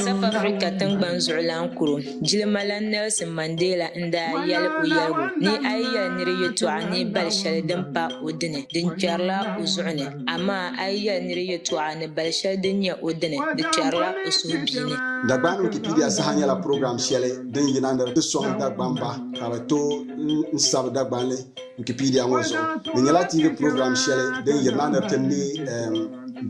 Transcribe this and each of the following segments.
South Africa tiŋgbani zuɣulan kuro jilimalana Nelson Mandela n daa yɛli o yɛligu ni a yi yɛli niri yɛtɔɣa ni bali shɛli din pa o dini di kpɛrila o zuɣu ni amaa a yi yɛli niri yɛtɔɣa ni bali shɛli din nyɛ o dini di kpɛrila o suhubiini. Dagbani Wikipedia saha nyɛla program shɛli din yina ni di sɔŋ Dagbamba ka bɛ tooi n sabi Dagbanli. Wikipedia ŋɔ zuɣu di nyɛla TV program shɛli din yiri na ni ti ne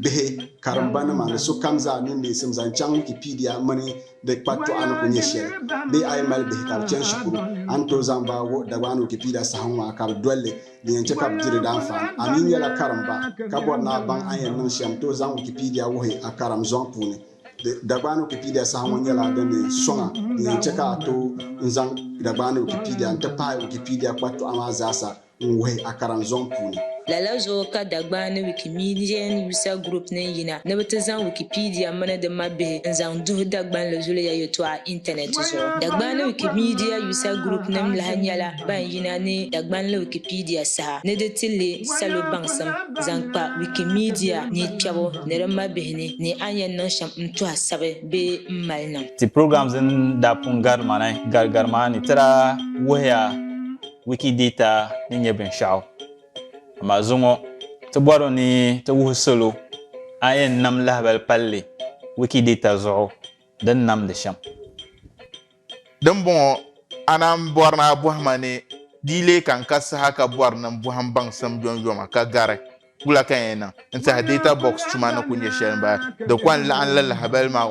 bihi karimba nima ni sokam zaa niŋ neesim zaŋ chaŋ Wikipedia mini di kpatɔɣa ni ku nyɛ shɛli. Bee a yi mali bihi ka bi chani shikuru, a ni tooi zaŋ ba wuhi Dagbani Wikipedia saha ŋɔ a ka bi doli li, din yɛn chɛ ka bi di di daanfaani. A mi nyɛla karimba ka bɔri ni a baŋ a ni yɛn niŋ shɛm, tooi zaŋ Wikipedia wuhi a karim zɔŋ puuni. Dagbaani Wikipedia saha ŋɔ nyɛla din ni sɔŋa din yɛn chɛ ka a tooi n-zaŋ Dagbaani Wikipedia n-ti pahi Wikipedia kpatɔɣa maa zaasa n-wuhi a karinzɔŋ puuni. Lala zuɣu ka Dagbaani Wikimedian User Group niŋ yina ni bɛ ti zaŋ Wikipedia mini di mabihi n-zaŋ duhi Dagbanli zuliya yɛtɔɣa intanɛt zuɣu. Dagbaani Wikimedia User Group nim lahi nyɛla ban yina ni Dagbanli Wikipedia saha ni di ti leei salo baŋsim zaŋ kpa Wikimedia ni kpɛbu ni di mabihi. ni ni a ni yɛn niŋ shɛm n-tu a sabi bee m-mali niŋ. Ti programs din daa pun gari ma ni gari gari maa ni ti daa wuhiya Wikidata ni nyɛ binshɛɣu. Amaa zuŋɔ ti bɔri ni ti wuhi salo a ni yɛn nam lahibali palli Wikidata zuɣu di ni namdi shɛm. Dimbɔŋɔ, a naan bɔri ni a bɔhi ma ni di yi lee kan ka saha ka bɔri ni n bɔhi m baŋsim yomyoma ka gari wula ka n yɛn niŋ n-tiɛhi Data Box tuma ni ku nyɛ shɛli m-bala. Di kɔŋ laɣim li lahibali maa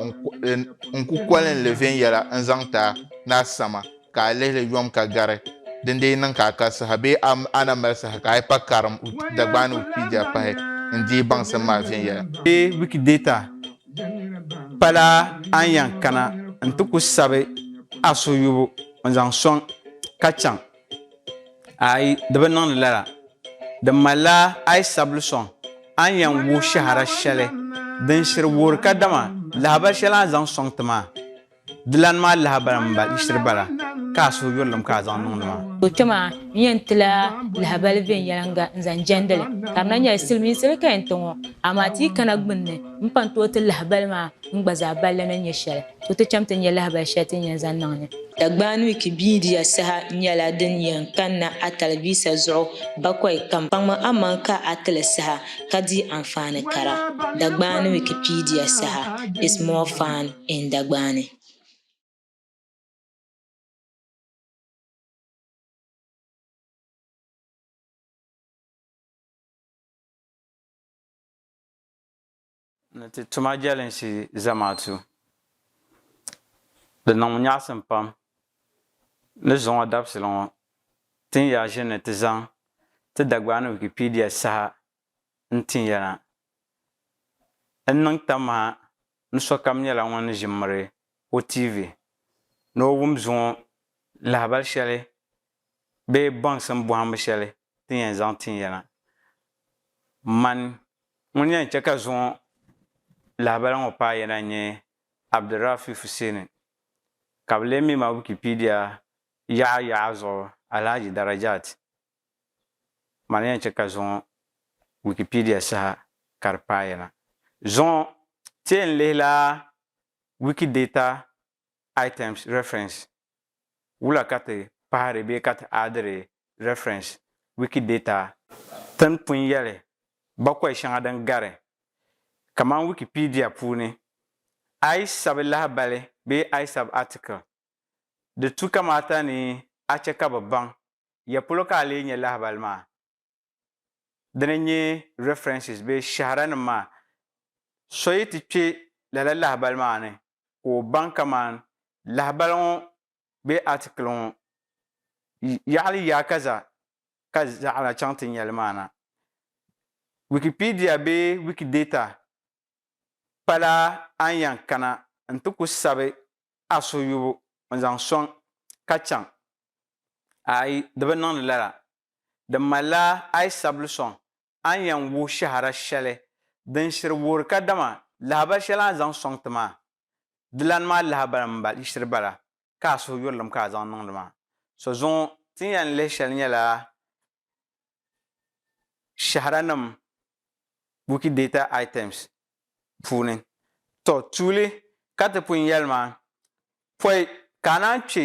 n ku kolin li viɛnyɛla n-zaŋ ti a ni a sama ka a lihi li yom ka gari din dii niŋ ka a ka saha bee a na mali saha ka a yi pa karim Dagbaani Wikipedia pahi n-deei baŋsim maa viɛnyɛla. Bee Wikidata Pala a ni yan kana nti ku sabi a suyubu n-zaŋ sɔŋ ka chaŋ? Aai, di bi niŋdi lala. Di malila a yi sabili sɔŋ, a ni yan wuhi shɛhira shɛli din shiri wuhiri kadama lahibali shɛli a ni zaŋ sɔŋ ti maa. Di lan mali lahabali mini ba yiɣisiri bala ka a suhu yurilim ka a zaŋ niŋdi ma. O kpe maa, n yɛn ti la lahabali viɛnyɛliŋga n-zaŋ jɛndi li. Ka di na nyɛla silimiinsi di ka yɛn ti ŋɔ, amaa ti yi kana gbunni m-pan tooi ti lahabali maa n gba zaa balli ni nyɛ shɛli, to ti cham ti nya lahabali shɛli ti ni yɛn zaŋ niŋ ni. Dagbani wiiki biidiya saha nyɛla din yɛn kanna a talivisa zuɣu bakɔi kam. Kpaŋmi amaŋ ka a ti li saha ka di anfaani kara. Dagbani Wikipedia, Saha is more fun. in Dagbaani. Ni ti tuma jɛlinsi zamaatu, di niŋmi nyaɣisim pam ni zuŋɔ dabisili ŋɔ tin ya ʒini ni ti zaŋ ti Dagbaani Wikipedia saha n-tin ya na. N niŋ tam ha ni sokam nyɛla ŋun ni ʒi m-miri o tiivi ni o wum zuŋɔ lahibal shɛli bee baŋsim bɔhimbu shɛli ti yɛn zaŋ tin ya na. Man ŋun yɛn chɛ ka zuŋɔ lahibal ŋɔ paai ya na n-nyɛ Abdulrafi Fuseni, ka bɛ lee mi ma Wikipedia yaɣa yaɣa zuɣu Alhaji Darajat. Maa ni yɛn chɛ ka zuŋɔ Wikipedia saha ka di paai na. Zuŋɔ, ti yɛn lihila Wikidata Items Reference wula ka ti pahiri bee ka ti aadiri reference Wikidata tin pun yɛli bakɔi shɛŋa din gari, kamani Wikipedia puuni, I sabi lahibali bee I sabi article. Di tu kamaata ni a chɛ ka bɛ baŋ ya polo ka a lee nya lahibali maa? Dini n-nyɛ references bee shɛhiranim maa. So yi ti kpe lala lahibali maa ni ka o baŋ kaman lahibali ŋɔ bee article ŋɔ yaɣili yaakaza ka zaɣina chaŋ ti nya li maa na. Wikipedia bee Wikidata pala a ni yɛn kana nti ku sabi a suhuyubu n-zaŋ sɔŋ ka chaŋ Aai, di bi niŋdi lala. Di malila aai sabili sɔŋ a ni yɛn wuhi shɛhira shɛli din shiri wuhiri kadama lahabali shɛli a ni zaŋ sɔŋ ti maa. Dilani maa lahabali m-shiri bala ka a suhuyurilim ka a zaŋ niŋdi maa. So zuŋɔ ti ni yɛn lihi shɛli nyɛla shɛhiranim Wikidata Items puuni. Tɔ! Tuuli ka ti pun yɛli maa, pɔi ka a naan kpe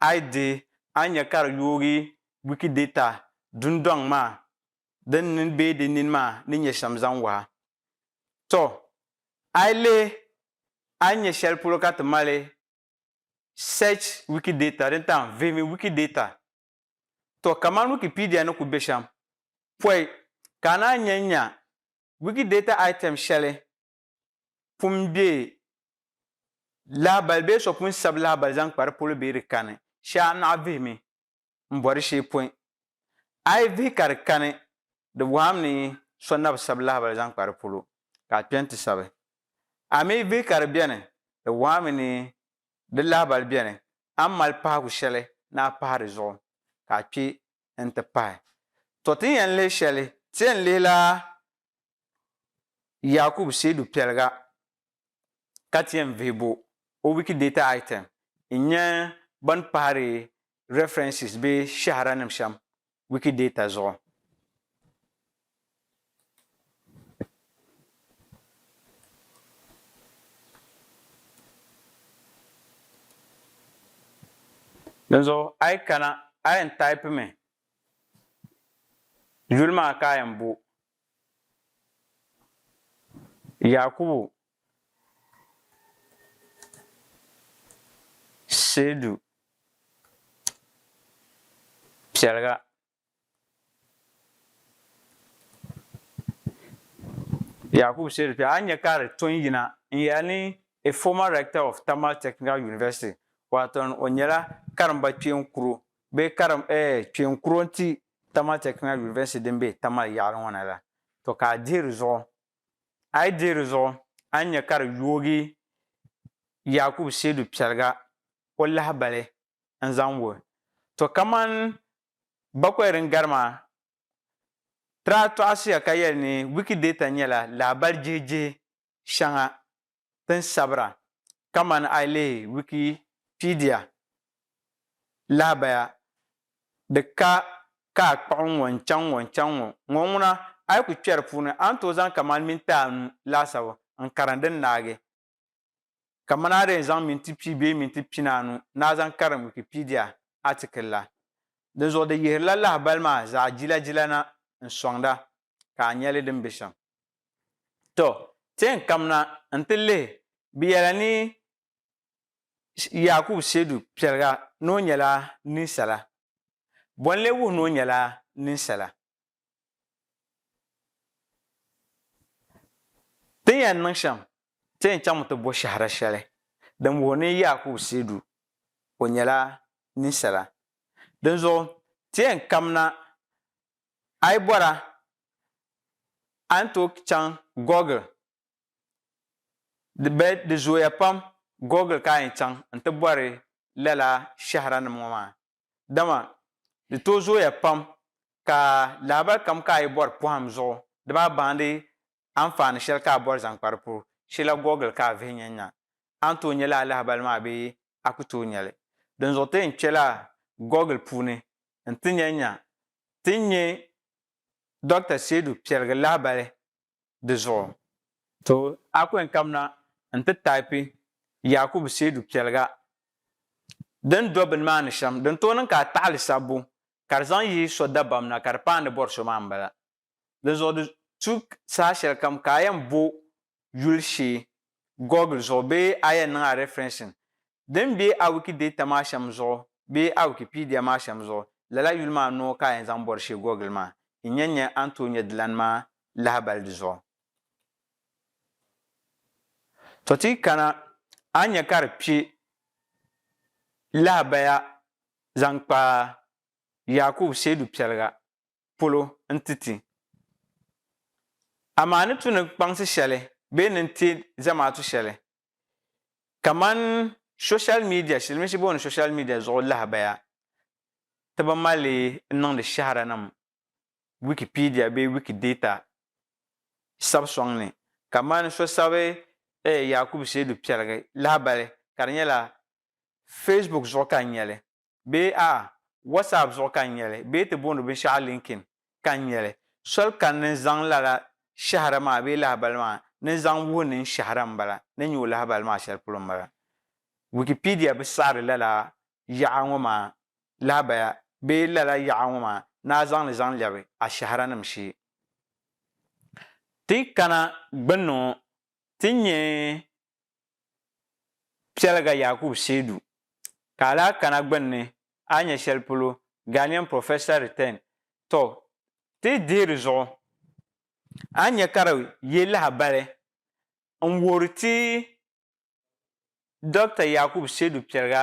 a yi dihi a ni nya ka di yoogi Wikidata dundɔŋ maa din nini bee di nini maa ni nyɛ shɛm zaŋ wahi. Tɔ! A yi lihi a ni nya shɛli polo ka ti mali Search Wikidata din tam Vihimi Wikidata. Tɔ! Kamani Wikipedia ni ku be shɛm pɔi ka a naan nya nya Wikidata item shɛli pun be lahabali bee so pun sabi lahabali zaŋ kpa di polo bee di kani, shee a naɣ vihimi m-bɔri shee pɔi. A yi vihi ka di kani, di bɔhim ni so na bi sabi lahabali zaŋ kpa di polo, ka a kpe nti sabi. A mi yi vihi ka di beni, di bɔhimi ni di lahabali beni, a ni mali pahigu shɛli ni a pahi di zuɣu, ka a kpe nti pahi. Tɔ! Ti ni yɛn lihi shɛli, ti yɛn lihila Yakub Seidu Piɛliga ka ti yɛn vihi bo o Wikidata item n-nyɛ bɛn pahiri references bee shɛhiranim shɛm Wikidata zuɣu. Dinzuɣu a yi kana a yɛn taipimi yuli maa ka a yɛn bo Yakubu Seidu Piɛliga Yakubu Seidu Piɛliga a ni nya ka di to n-yina n-yɛli ni a former rector of Tamale Technical University, waaton o nyɛla karimba kpeen kuro bee karim eh kpeen kuro n-ti Tamale Technical University din be Tamale yaɣili ŋɔ na la, to ka a dihi di zuɣu. A yi dihi di zuɣu, a ni nya ka di yoogi Yakubu Seidu Piɛliga o lahibali n-zaŋ wuhi. To kaman Bakwai din gari maa, Traa tɔɣisiya ka yɛli ni Wikidata nyɛla lahibali jihijihi shɛŋa tin sabira kamani a yi lihi Wikipedia lahabaya di ka ka a kpuɣi ŋ-ŋɔ n-chaŋ ŋ-ŋɔ n-chaŋ ŋ-ŋɔ ŋ-ŋɔ ŋuna a yi ku kpɛri puuni a ni tooi zaŋ kamani minti anu laasabu n-karim din naagi kamani a di yɛn zaŋ minti pia bee minti pinaanu ni a zaŋ karim Wikipedia atikili la. Dinzuɣu di yihirila lahibali maa zaɣ jilajila na n-sɔŋda ka a nya li din be shɛm. To, ti yɛn kamina n-ti lihi bɛ yɛla ni Yaakubu Seedu Pɛliga ni o nyɛla ninsala. Bɔ n-lee wuhi ni o nyɛla ninsala? Ti ni yɛn niŋ shɛm, ti yɛn chaŋmi ti bo shɛhira shɛli din wuhi ni Yaakubu Seedu o nyɛla ninsala. Dinzuɣu ti yɛn kamina A yi bɔra a ni tooi chaŋ Google di bee di zooya pam Google ka a yɛn chaŋ n ti bɔri lala shɛhira nim ŋɔ maa dama di tooi zooya pam ka lahabali kam ka a yi bɔri pɔhim zuɣu di baa baandi anfaani shɛli ka a bɔri zaŋ kpa di puu shila Google ka a vihi nya nya a ni tooi nya lala lahabali maa bee a ku tooi nya li. Dinzuɣu ti yɛn kpela Google puuni n ti nya nya ti ni nya Dɔkta Seidu piɛligi lahibali di zuɣu. To a ku yɛn kamina n ti taipi Yakubu Seidu piɛliga din do bini maa ni shɛm. Din tooi niŋ ka a taɣili sabbu ka di zaŋ yi so dabam na ka di paai ni bɔri so maa m-bala. Dinzuɣu di tu saha shɛlikam ka a yɛn bo yuli shee Google zuɣu bee a yɛn niŋ a referencing din be a Wikidata maa shɛm zuɣu bee a Wikipedia maa shɛm zuɣu, lala yuli maa noo ka a yɛn zaŋ bɔri shee Google maa yi nya nya a ni tooi nya dilani maa lahibali di zuɣu. Tɔ ti yi kana a ni nya ka di kpe lahabaya zaŋ kpa Yakubu Seidu Piɛliga polo n-ti ti. Amaa ni tu ni kpaŋsi shɛli bee ni n-ti zamaatu shɛli kamani soshal midia, shilimiinsi booni soshal midia zuɣu lahabaya, ti bi mali n-niŋdi shɛhiranim Wikipedia bee Wikidata sabu sɔŋ ni. Kamani so sabi Yakubu Seidu Piɛligi lahibali ka di nyɛla Facebook zuɣu ka n nya li, bee a, WhatsApp zuɣu ka n nya li, bee ti booni binshɛɣu LinkedIn ka n nya li, soli ka n ni zaŋ lala shɛhira maa bee lahibali maa ni zaŋ wuhi ni n shɛhira m-bala, ni nya o lahibali maa shɛli polo m-bala. Wikipedia bi saɣiri lala yaɣa ŋɔ maa lahibaya bee lala yaɣa ŋɔ maa ni a zaŋ li zaŋ lɛbi a shɛhiranim shee. Ti yi kana gbunni ŋɔ, ti ni nya piɛliga Yakub Seidu, ka a lahi kana gbunni a ni nya shɛli polo Ghanaian Professor Return, tɔ ti yi dihi di zuɣu, a ni nya ka di ye lahabali n-wuhiri ti Dr Yakub Seidu piɛliga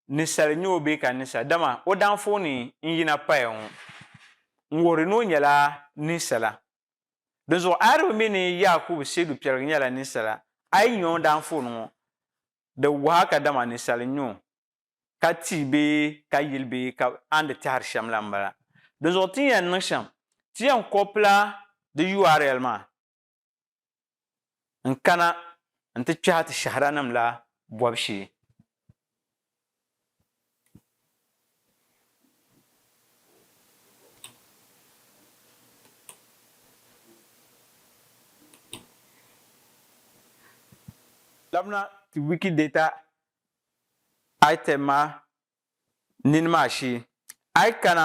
nisali nyɛ o bee ka nisa, dama o danfooni n-yina paya ŋɔ n-wuhiri ni o nyɛla ninsala. Dinzuɣu ayirimo mi ni Yaakubu Seedu Piɛligi nyɛla ninsala, a yi nya o danfooni ŋɔ, di wuhi a kadama ninsali n-nyɛ o, ka ti bee ka yili bee ka a ni di tɛhiri shɛm la m-bala. Dinzuɣu ti ni yɛn niŋ shɛm, ti yɛn kɔpila di URL maa. n kana n ti kpɛhi ti shɛhiranim la bɔbu shee. Labina ti Wikidata item maa nini maa shee. A yi kana,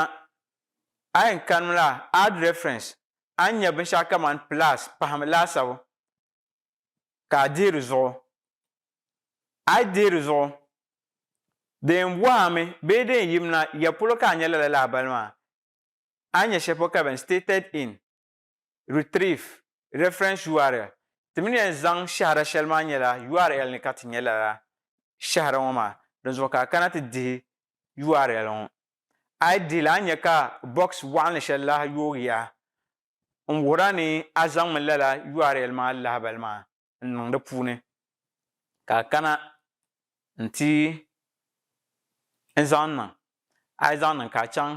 a yɛn kanimi la Add Reference a ni nya binshɛɣu kamani pilas pahimi laasabu ka a deei di zuɣu. A yi deei di zuɣu, di yɛn bɔhi a mi bee di yɛn yimina ya polo ka a nya lala lahabali maa? A ni nya shɛli polo ka bɛ ni stated in, retrieve, reference url. Ti mi ni yɛn zaŋ shɛhira shɛli maa nyɛla url ni ka ti nya lala shɛhira ŋɔ maa, dinzuɣu ka a kana ti dihi url ŋɔ. A yi dihili a ni nya ka box waɣinli shɛli lahi yoogiya n wuhiri a ni a zaŋmi lala url maa lahabali maa n niŋ di puuni ka a kana n ti n zaŋ niŋ. A yi zaŋ niŋ ka a chaŋ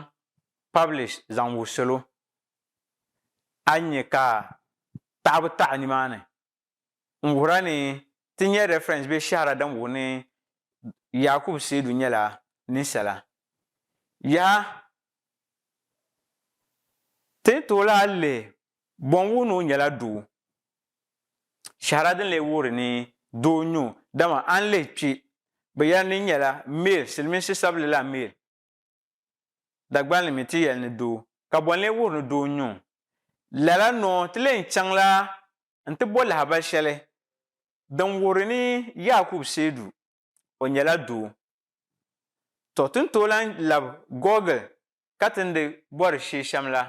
publish zaŋ wuhi salo a ni nya ka taɣibu taɣi nimaani n wuhir a ni ti nya reference bee shɛhira din wuhi ni Yakubu Seidu nyɛla ninsala. Yaha! Ti ni tooi lahi lihi bɔ n wuhi ni o nyɛla doo. Shɛhira din lee wuhiri ni doo n-nyɛ o, dama a ni lihi kpe bɛ yɛli ni nyɛla male, silimiinsi sabili la male. Dagbaŋ ni mi ti yɛli ni doo, ka bɔ n-lee wuhiri ni doo n-nyɛ o? Lala noo ti lee chaŋla nti bɔ lahabali shɛli din wuhiri ni Yaakubu seedu o nyɛla doo. Tɔ ti ni tooi lahi lab Gɔɔgil ka ti ni di bɔri sheeshɛm la.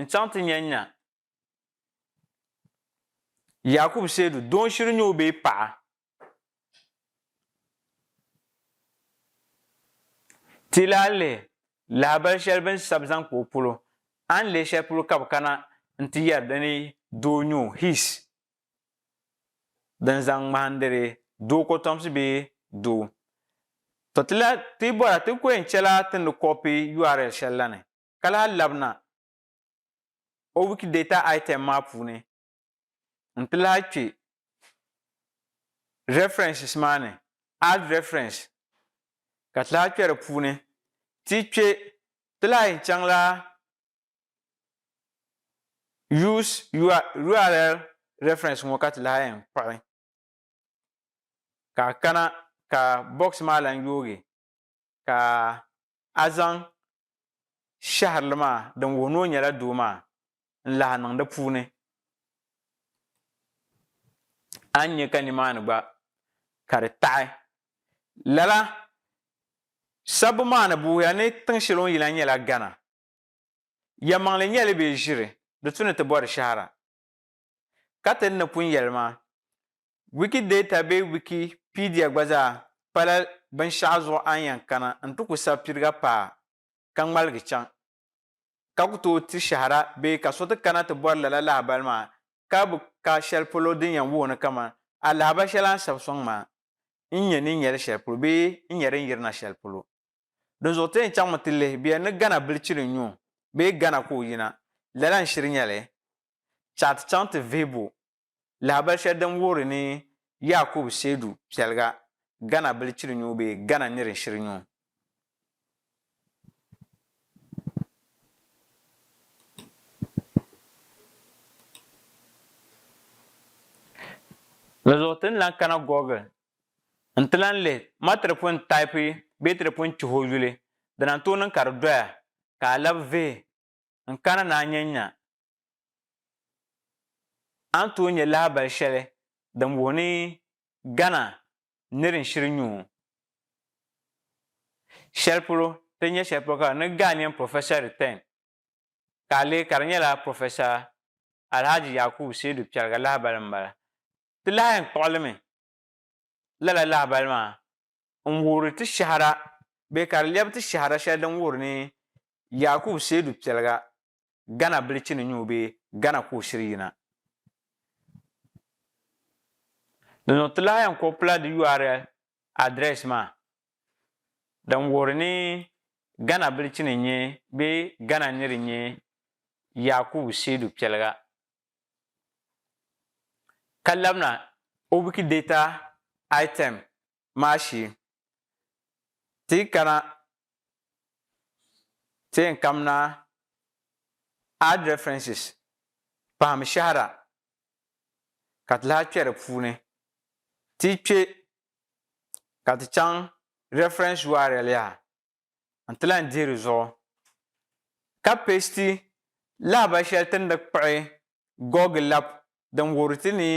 n-chaŋ ti nya n-nya Yaakubu Seedu doo shiri nyoo bee paɣa. Ti lahi lihi lahabali shɛli bɛ ni sabi zaŋ kpa o polo, a ni leei shɛli polo ka bɛ kana nti yɛri di ni doo nyoo, his, din zaŋ ŋmahindiri doo kɔtomsi bee doo. Tɔ ti lahi ti yi bɔra ti ni ku yɛn chɛla ti ni kɔpi url shɛli la ni. ka lahi labina o Wikidata item maa puuni n-ti lahi kpe references maa ni, add reference, ka ti lahi kpe di puuni. Ti yi kpe, ti lahi yɛn chaŋla Use url reference ŋɔ ka ti lahi yɛn kpuɣi ka a kana ka box maa lahi yoogi ka a zaŋ shɛhirili maa din wuhi ni o nyɛla doo maa n-lahi niŋ di puuni, a ni nya ka nimaani gba ka di taɣi. Lala sabbu maa ni buhiya ni tiŋ shɛli o ni yi la nyɛla Ghana. Yɛlimaŋli nyɛli bee ʒiri di tu ni ti bɔri shɛhira. ka ti ni pun yɛli maa, Wikidata bee Wikipedia gba zaa pala binshɛɣu zuɣu a ni yɛn kana n-ti ku sabi piriga paa ka ŋmaligi chaŋ, ka ku tooi ti shɛhira bee ka so ti kana ti bɔri lala lahibali maa ka bi ka shɛli polo din yɛn wuhi ni kaman a lahibal shɛli a ni sabi sɔŋ maa n-nyɛ ni nyɛli shɛli polo bee n-nyɛ din yirina shɛli polo. Dinzuɣu ti yɛn chaŋmi ti lihi bɛ yɛn ni Ghana bilichili n-nyu bee Ghana ka o yina, lala n-shiri nyɛli Ti a ti chaŋ ti vihibu lahabali shɛli din wuhiri ni Yakubu Seidu Piɛliga, Ghana bilichiri nyu bee Ghana nir shiri nyu. Di zuɣu ti ni lan kana Google n-ti lan lihi ma ti di pun taipi bee ti di pun chihi o yuli, dina n-tooi niŋ ka di doya ka a labi vihi n kana ni a nya n nya a ni tooi nya lahabali shɛli din wuhi ni Ghana nir n shiri nyu o shɛli polo ti nya shɛli polo ka ni Ghanaian Professor Return ka a lihi ka di nyɛla Professor Alhaji Yakubu Seidu Piɛliga lahabali m-bala. Ti lahi yɛn kpuɣi li mi lala lahabali maa n-wuhiri ti shɛhira bee ka di lɛbi ti shɛhira shɛli din wuhiri ni Yakubu Seidu Piɛliga, Ghana bilichi ni nyuui bee Ghana ka o shiri yina. Dinzuɣu ti lahi yɛn kɔpila di url address maa din wuhiri ni Ghana bilichi ni nyɛ bee Ghana niri nyɛ Yakubu Seidu Piɛliga ka labina o Wikidata item maa shee. Ti yi kana ti yɛn kamina Add References, Pahim Shɛhira, ka ti lahi kpɛ di puuni. Ti yi kpɛ ka ti chaŋ reference url yaha. n ti lahi dihi di zuɣu. Ka pasti lahibali shɛli ti ni di kpuɣi Gog lab din wuhiri ti ni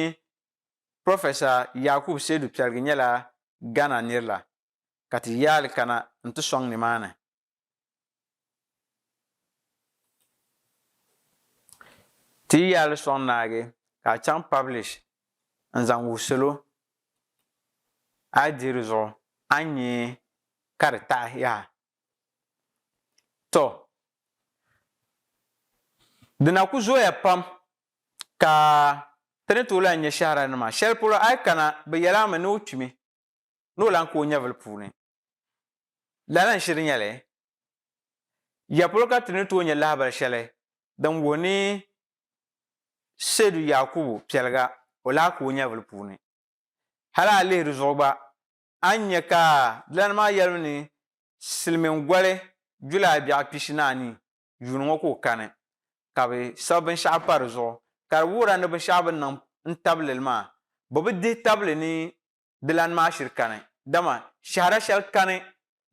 Professor Yakub Seidu Piargi nyɛla Ghana nir la, ka ti yaali kana n ti sɔŋ nimaani. Ti yi yaali sɔŋ naagi ka a chaŋ publish n zaŋ wuhi salo, a yi dihi di zuɣu a ni nya ka di taɣi yaha. Tɔ! Di na ku zooya pam ka ti ni tooi lahi nya shɛhiraninima. Shɛli polo a yi kana, bɛ yɛl a mi ni o kpimi ni o lan ka o nyɛvili puuni. Lala n-shiri nya li? Ya polo ka ti ni tooi nya lahibal shɛli din wuhi ni Seydu Yaakubu piɛliga o lahi ka o nyɛvili puuni. Hal a lihi di zuɣu gba, a ni nya ka dilana maa yɛlibu ni silimiŋ goli julaa biɛɣu pishi ni anii yuuni ŋɔ ka o kani, ka bɛ sabi binshɛɣu pa di zuɣu, ka di wuhira ni binshɛɣu bɛ ni niŋ n-tabi lili maa, bɛ bi dihi tabili ni dilana maa shiri kani, dama shɛhira shɛli kani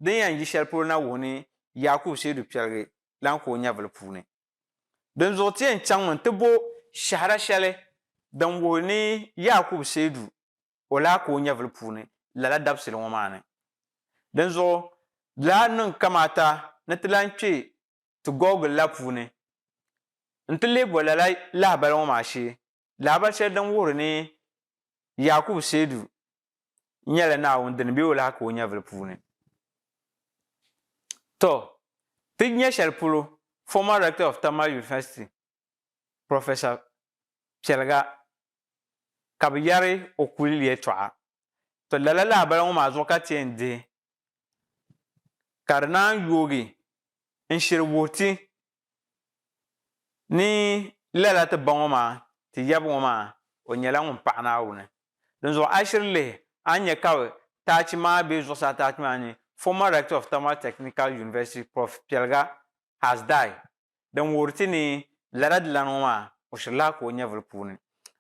din yɛn yi shɛli polo na wuhi ni Yakubu Seidu piɛligi lan ka o nyɛvili puuni. Dinzuɣu ti yɛn chaŋmi nti bo shɛhira shɛli din wuhi ni Yakubu Seidu o lahi ka o nyɛvili puuni lala dabisili ŋɔ maa ni. Dinzuɣu di lahi niŋ kamaata ni ti lahi kpe ti gɔgili la puuni n-ti leei bɔ lala lahibali ŋɔ maa shee, lahibali shɛli din wuhiri ni Yakubu Seidu nyɛla Naawuni dini bee o lahi ka o nyɛvili puuni. Tɔ! Ti nya shɛli polo, former Rector of Tamale University, Professor Piɛliga ka bɛ yɛri o kuli yɛltɔɣa. To lala lahabali ŋɔ maa zuɣu ka ti yɛn dihi ka di naan yoogi n-shiri wuhi ti ni lala ti ba ŋɔ maa ti yab ŋɔ maa o nyɛla ŋun paɣi Naawuni. Dinzuɣu a yi shiri lihi a ni nya ka taachi maa be zuɣusaa taachi maa ni, Former Rector of Tamale Technical University Prof Piɛliga has died. din wuhiri ti ni lala dilana ŋɔ maa, o shirila ka o nyɛvili puuni.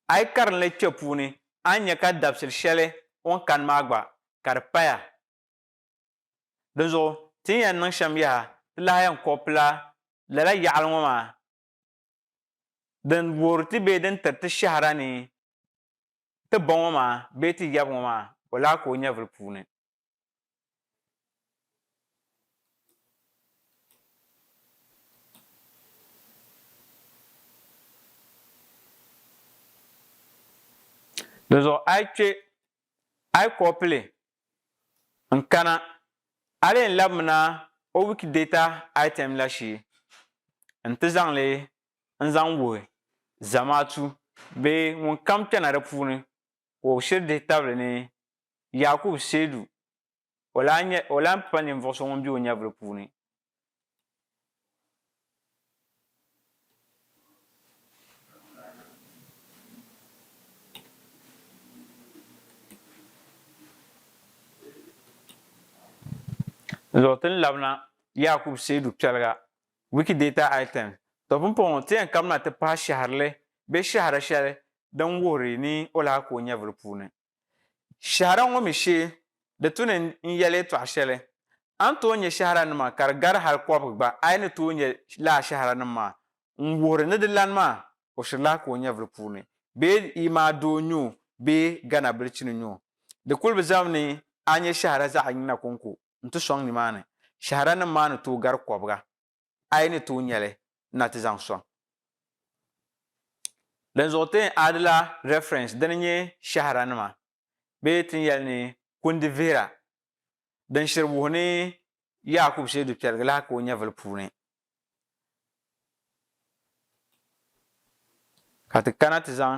A yi karinli kpe puuni, a ni nya ka dabisili shɛli o ni kani maa gba, ka di paya. Dinzuɣu, ti ni yɛn niŋ shɛm yaha, ti lahi yɛn kɔpila lala yaɣili ŋɔ maa din wuhiri ti bee din tiri ti shɛhira ni ti ba ŋɔ maa bee ti yab ŋɔ maa, o lahi ka o nyɛvili puuni. Dinzuɣu a yi kpe, a yi kɔpili n-kana, a lee labimina o Wikidata item la shee nti zaŋ li n-zaŋ wuhi Zamaatu bee ŋunkam kpɛna di puuni. wɔbu shiri dihi tabili ni Yaakubu Seedu, o lahi nyɛ, o lahi pa ninvuɣu so ŋun be o nyɛvili puuni. Zuɣu ti ni labina Yaakubu Seedu piɛliga Wikidata item, To pumpɔŋɔ ti yɛn kabina ti pahi shɛhirili bee shɛhira shɛli din wuhiri ni o lahi ku o nyɛvuli puuni. Shɛhira ŋɔ mi shee di tu ni n yɛli yɛtɔɣ shɛli, a ni tooi nyɛ shɛhiranima ka di gari hal kɔbiga gba a yi ni tooi nyɛ lala shɛhiranim maa n wuhiri ni di lani maa o shiri lahi ku o nyɛvuli puuni bee yi maa doo n-nyɛ o bee Ghana bilichini n-nyɛ o. Di kuli bi zami ni a nyɛ shɛhira zaɣ yiŋ na kɔŋko. n-ti sɔŋ nimaani, shɛhiranim maa ni tooi gari kɔbiga, a yi ni tooi nya li na ti zaŋ sɔŋ. Dinzuɣu ti yɛn aadila reference dini nyɛ shɛhiranima bee ti ni yɛli ni kundi vihira din shiri wuhi ni Yaakubu Shee Dukpɛrigi lahi ka o nyɛvili puuni. ka ti kana ti zaŋ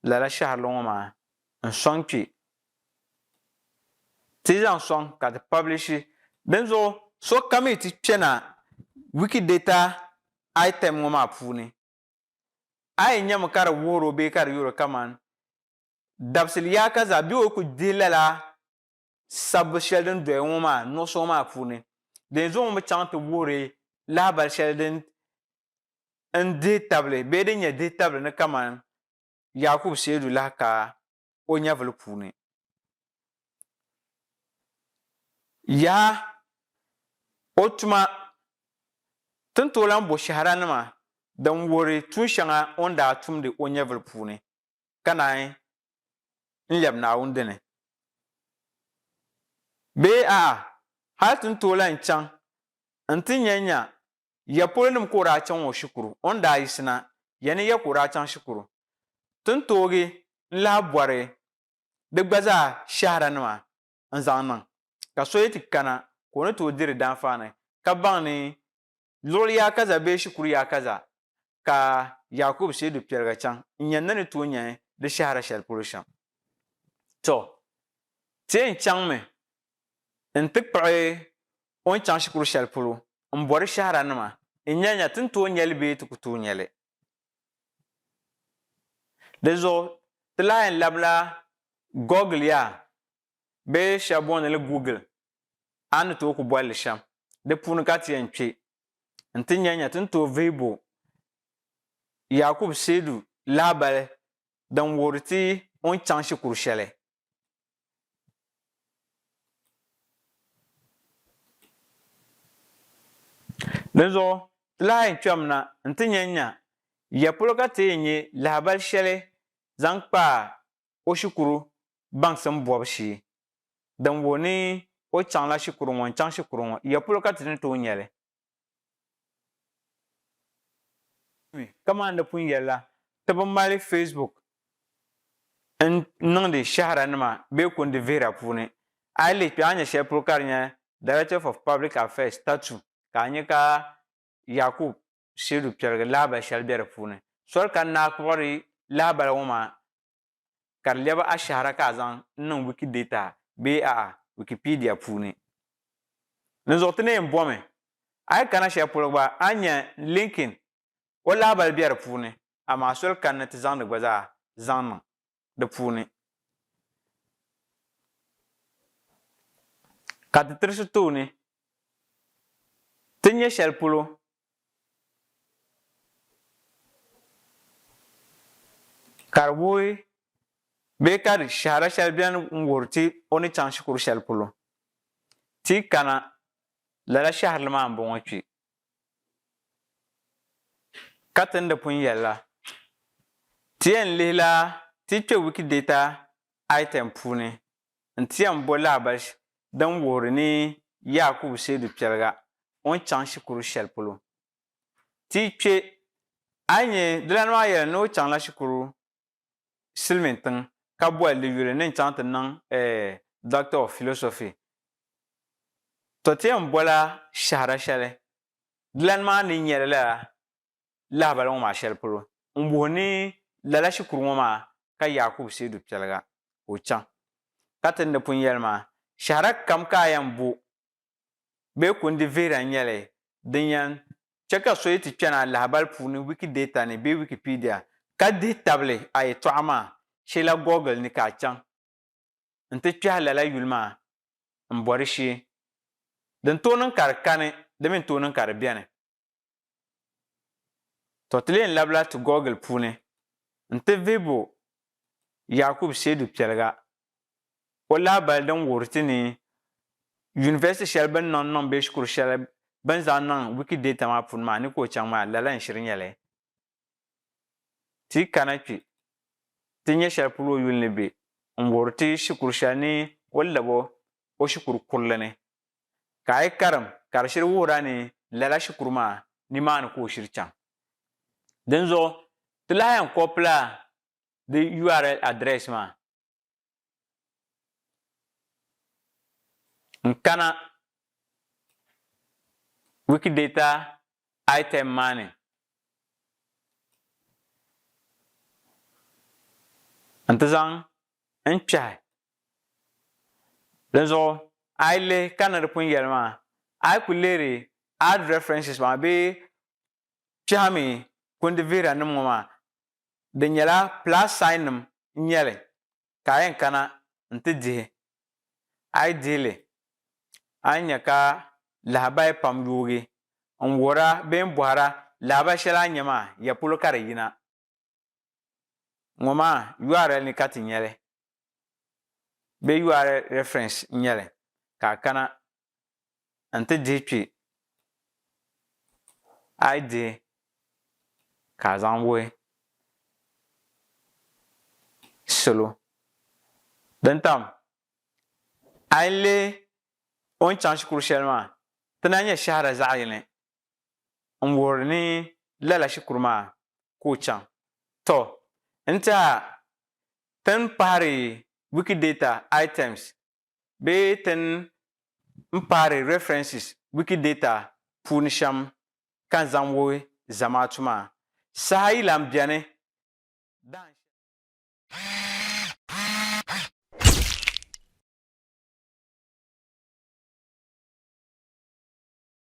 lala shɛhirili ŋɔ maa n sɔŋ kpe ti zaŋ sɔŋ ka ti pablishi dinzuɣu sokam yi ti kpɛna Wikidata item ŋɔ maa puuni a yi nyami ka di wuhiri o bee ka di yuri kaman dabisili yaaka zaa bee o ku dihi lala sabbu shɛli din doya ŋɔ maa nuɣuso ŋɔ maa puuni dinzuɣu ŋun bi chaŋ ti wuhiri lahabali shɛli din n dihi tabili bee din nyɛ dihi tabili ni kamani Yakubu Seidu lahi ka o nyɛvili puuni. Yaha! O tuma tin tooi lahi bo shɛhira nima din wuhiri tuun shɛŋa o ni daa tumdi o nyɛvili puuni. ka naanyi n-lɛbi Naawuni dini? Bee a'a, hal ti ni tooi lahi chaŋ nti nya nya ya polonim ka o daa chaŋ o shikuru? O ni daa yiɣisi na, ya ni ya ka o daa chaŋ shikuru? Ti ni toogi n-lahi bɔri di gba zaa shɛhiranima n-zaŋ niŋ, ka so yi ti kana ka o ni tooi diri danfaani ka baŋ ni Luɣili yaa kaza bee shikuru yaa kaza ka Yaakubu shee du piɛliga chaŋ n-nya ni ni tooi nya di shɛhira shɛli polo shɛm? Tɔ! Ti yɛn chaŋmi nti kpuɣi o n-chaŋ shikuru shɛli polo m-bɔ di shɛhiranima n-nya nya ti ni tooi nya li bee ti ku tooi nya li. Di zuɣu ti lahi yɛn labila Gɔgil yaa bee shɛba booni li Google a ni tooi ku boli li shɛm, di puuni ka ti yɛn kpe n-ti nya nya ti ni tooi vihi bo Yaakubu seedu lahibali din wuhiri ti o ni chaŋ shikuru shɛli. Dinzuɣu ti lahi yɛn kpɛmi na n-ti nya nya ya polo ka ti yɛn nya lahibali shɛli zaŋ kpaai o shikuru baŋsim bɔbu shee, din wuhi ni o chaŋla shikuru ŋɔ n-chaŋ shikuru ŋɔ, ya polo ka ti ni tooi nya li? Kamani di pun yɛli la, ti bi mali Facebook n-niŋdi shaharanima bee kundi vihira puuni. A yi lihi kpe a ni nya shɛli polo ka di nya Directorate of Public Affairs, TATU, ka a nya ka Yakub seedu piɛligi lahabali shɛli be di puuni. Soli ka n daa kpuɣiri lahabali ŋɔ maa ka di lɛbi ashɛhira ka a zaŋ n-niŋ Wikidata bee a'a Wikipedia puuni. Dinzuɣu ti ni yɛn bomi a yi kana shɛli polo gba a ni nya Lincoln o lahabali be di puuni amaa soli ka n ni ti zaŋdi gba zaa zaŋ niŋ. di puuni. Ka ti tirisi tooni ti nyɛ shɛli polo ka di wuhi bee ka di shɛhira shɛli beni n wuhiri ti o ni chaŋ shikuru shɛli polo. Ti yi kana lala shɛhirili maa m-bɔŋɔ kpe. Ka tin di pun yɛli la, ti yɛn lihila ti kpɛ Wikidata item puuni nti yɛn bo lahabal din wuhiri ni Yaakubu Seidu Kpɛliga o ni chaŋ shikuru shɛli polo. Ti yi kpɛ, a yi nya dilani maa yɛli ni o chaŋla shikuru silimiin tiŋ ka boli li yuli ni n-chaŋ ti niŋ eh Doctor of Philosophy. To ti yɛn bola shɛhira shɛli dilani maa ni nyɛli lala lahibali ŋɔ maa shɛli polo n-wuhi ni lala shikuru ŋɔ maa ka Yaakubu Seedu Piɛliga ka o chaŋ ka ti ni pun yɛli maa, shɛhira kam ka a yɛn bo bee kundi vihira n-nyɛ li din yɛn chɛ ka so yi ti kpɛna lahibali puuni Wikidata ni bee Wikipedia ka dihi tabili a yɛtɔɣa maa, sheela Google ni ka a chaŋ nti kpɛhi lala yuli maa m-bɔri shee. Din tooi niŋ ka di kani di mi n-tooi niŋ ka di beni. To ti leen labila ti Google puuni n-ti vihibu Yakub Seidu Piɛliga o lahabali din wuhiri ti ni University shɛli bɛ ni niŋ niŋ bee shikuru shɛli bɛ ni zaŋ niŋ Wikidata maa puuni maa ni ka o chaŋ maa lala n-shiri nyɛli. Ti yi kana kpi, ti nya shɛli polo o yuli ni be n-wuhiri ti shikuru shɛli ni o lab o o shikuru kurili ni. Ka a yi karim ka di shiri wuhir a ni lala shikuru maa nimaani ka o shiri chaŋ. Dinzuɣu ti lahi yɛn kɔpila di url address maa. N-kana Wikidata item maa ni nti zaŋ n kpɛhi. Dinzuɣu a yi lihi kanna di pun yɛli maa, a yi ku leeri Add References maa bee kpɛhimi kundi vihiranim ŋɔ maa, di nyɛla plus sign nim n nyɛ li ka a yɛn kana n ti dihi. A yi dihi li, a ni nya ka lahabaya pam yoogi n wuhira bee n bɔhira lahabaya shɛli a nya maa ya polo ka di yina. ŋɔ maa URL ni ka ti nya li bee URL reference n-nyɛ li ka a kana n-ti dihi kpi a yi dihi ka a zaŋ wuhi salo din tam a yi leei o ni chaŋ shikuru shɛli maa ti na nyɛ shɛhira zaɣ'yini n-wuhiri ni lala shikuru maa ka o chaŋ. Tɔ! N ti a tin pahiri Wikidata items bee tin n pahiri references Wikidata puuni shɛm ka n zaŋ wuhi Zamaatu maa. Saha yi lan beni dahin shɛli maa.